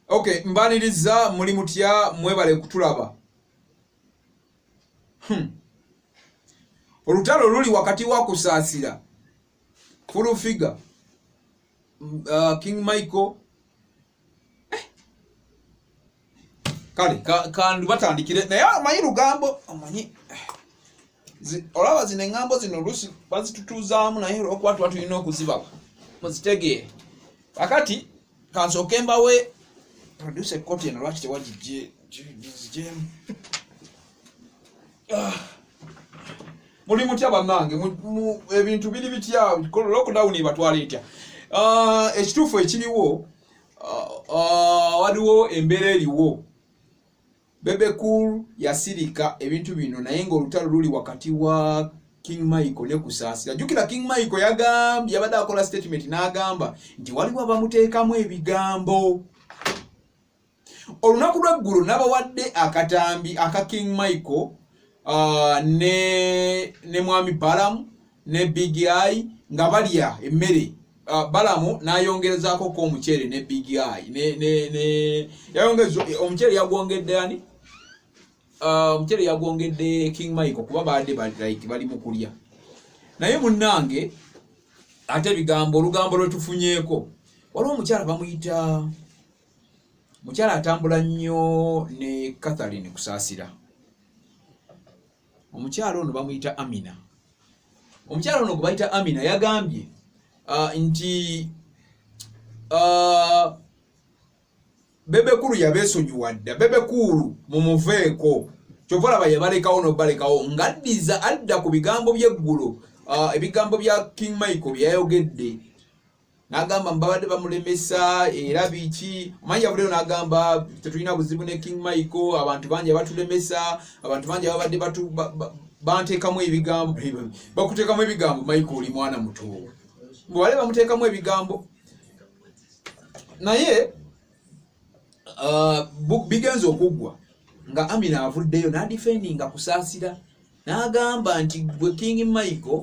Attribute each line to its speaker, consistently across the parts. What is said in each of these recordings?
Speaker 1: okay mbaniriza muli mutya mwebale kutulaba hmm. olutalo luli wakati wa kusaasira full figure uh, king michael kale kandu batandikire naye amanyi lugambo amanyi olaba zino eŋŋambo zino oluusi bazitutuuzaamu naye olwokuba tuba tulina okuzibaba muzitegeere akati kansooke mbawe produce ekkooti eno lwaki tewagijje gizijemu ah. muli mutya banange ebintu biri bitya lockdown ebatwala etya ah, ekituufu ekiriwo ah, ah, waliwo embeera eriwo bebecool yasirika ebintu bino naye ngaolutalo luli wakati wa king michael ne kusaasira jukira king michael yagambye yabadde akola statement n'agamba nti waliwo abamuteekamu ebigambo olunaku lweggulo nabawadde akatambi aka king michael uh, ne, ne mwami balamu ne big eye nga balya emmere uh, balamu nayongerezako ko omuceere ne big eye ne, ne, ne, yayongeza omuceere yagwongedde ani uh, omuceere uh, yagwongedde king michael kuba baadde like, bali mukulya naye munnange ate ebigambo olugambo lwetufunyeeko waliwo omukyala bamuyita mukyala atambula nnyo ne catherine kusaasira omukyala ono bamuyita amina omukyala ono gwebayita amina yagambye uh, nti uh, bebekulu yabesonyiwa dda bebekulu mumuveeko kyova laba yabalekawo nobalekawo ngaddiza adda ku bigambo byeggulo uh, ebigambo bya king michael byeyayogedde nagamba mbabadde bamulemesa era biki omanyi yavudeyo nagamba tetulina buzibu ne king michael abantu bangi abatulemesa abantu bangi ababadde bantekamu ebigambo bakutekamu ebigambo michael oli mwana muto bwebale bamutekamu ebigambo naye uh, bigenza okuggwa nga amina avuddeyo nadifendinga kusaasira nagamba nti gwe king michael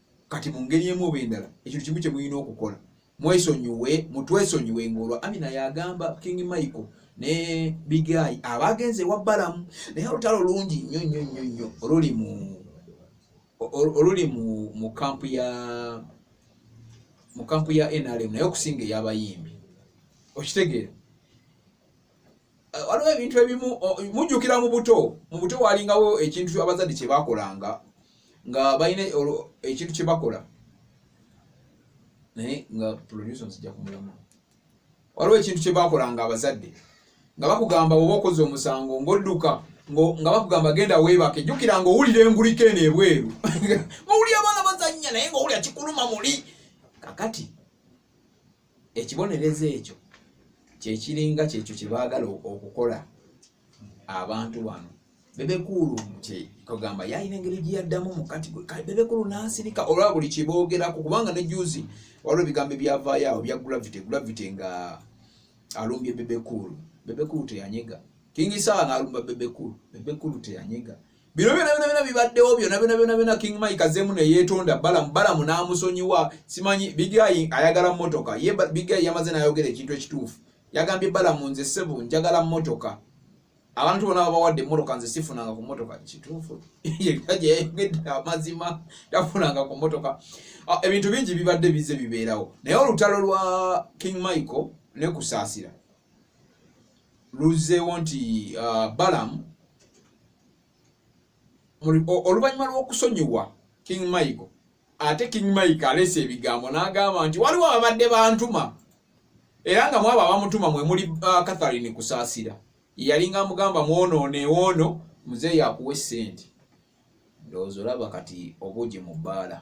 Speaker 1: kati mu ngeri emu oba endala ekintu kimu kye mulina okukola mwesonyiwe mutwesonyiwe ngaolwa amina yagamba king michael ne bigayi abagenze ewa balamu naye olutalo lungi nnyo nnyo nnyo nnyo oluli mu oluli mu kampu ya mu kampu ya nrm naye okusinga eyabayimbi okitegeera eh, waliwo ebintu ebimu mujjukira mu buto mu buto walingawo ekintu abazadde kye bakolanga nga balina ekintu kye bakola naye nga producer nsijja kumulamu waliwo ekintu kye bakolanga abazadde nga bakugamba oba okoze omusango ng'odduka nga bakugamba genda weebake jjukira nga owulira engulika eno ebweru ng'owulira abaana bazannya naye ng'owulira kikuluma muli kakati ekibonerezo ekyo kyekiringa kyekyo kyebaagala okukola abantu bano bebekulu kogamba yalina engeri gyeyaddamu mukati bebekulu nasirika olwa buli kyeboogerako kubanga ne juzi waliwo ebigambo ebyavaayo awo bya gravity gravity nga alumbye bebekulu bebekulu teyanyega kingisala nalumba bebekulu bebekulu teyanyega bino byona byona byona bibaddewo byona byona byona byona king mike azemu neyetonda balamu balamu n'amusonyiwa simanyi bigayi ayagala motoka ye bigayi yamaze n'ayogera ekintu ekituufu yagambye balamu nze sebo njagala motoka abantu bona babawadde emotoka nze sifunanga ku motoka kituufu yeyayogedde amazima tafunanga ku motoka ah, ebintu bingi bibadde bize bibeerawo naye olutalo lwa king michael nekusaasira luzzeewo nti uh, balam oluvannyuma lw'okusonyiwa king michael ate king michael aleese ebigambo n'agamba nti waliwo ababadde bantuma era nga mwabo abamutuma mwe muli uh, catharine kusaasira yalinga amugamba mwonoone woono muzeeyi akuwa essente ndowooza olaba kati obuugi mu bbaala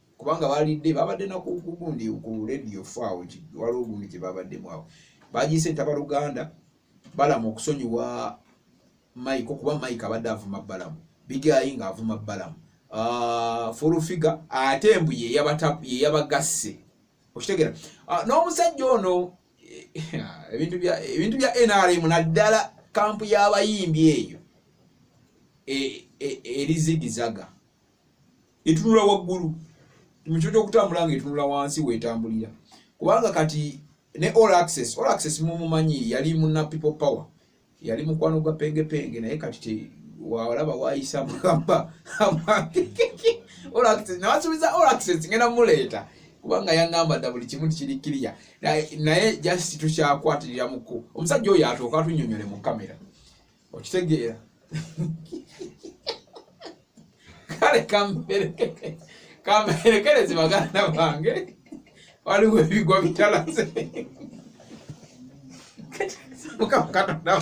Speaker 1: kubanga balidde babadde nakugundi ku radio faawo waliwo gundi gye babaddemu awo bagiyise ntaba luganda balamu okusonyiwa mike okuba mike abadde avuma balamu bigayi nga avuma balamu ah, fulufiga ate mbu yeyabagasse okitegera ah, n'omusajja ono ebintu bya ebintu bya NRM naddala kampu y'abayimbi eyo e, e, erizigizaga e, etunula waggulu mukyo kyokutambula nga etunula wansi wetambulira kubanga kati ne all access all access mumumanyi yali muna people power yali mukwano gwa pengepenge naye kati te walaba wayisa mugamba nawasubiza all access ngenda muleeta kubanga yangamba dda buli kimu tikirikkiriya naye just tukyakwatirira muku omusajja oyo atooka tunyonyole mu kamera okitegeera kale kamperekerezi baganda bange waliwo ebigwa bitalaze mukama katonda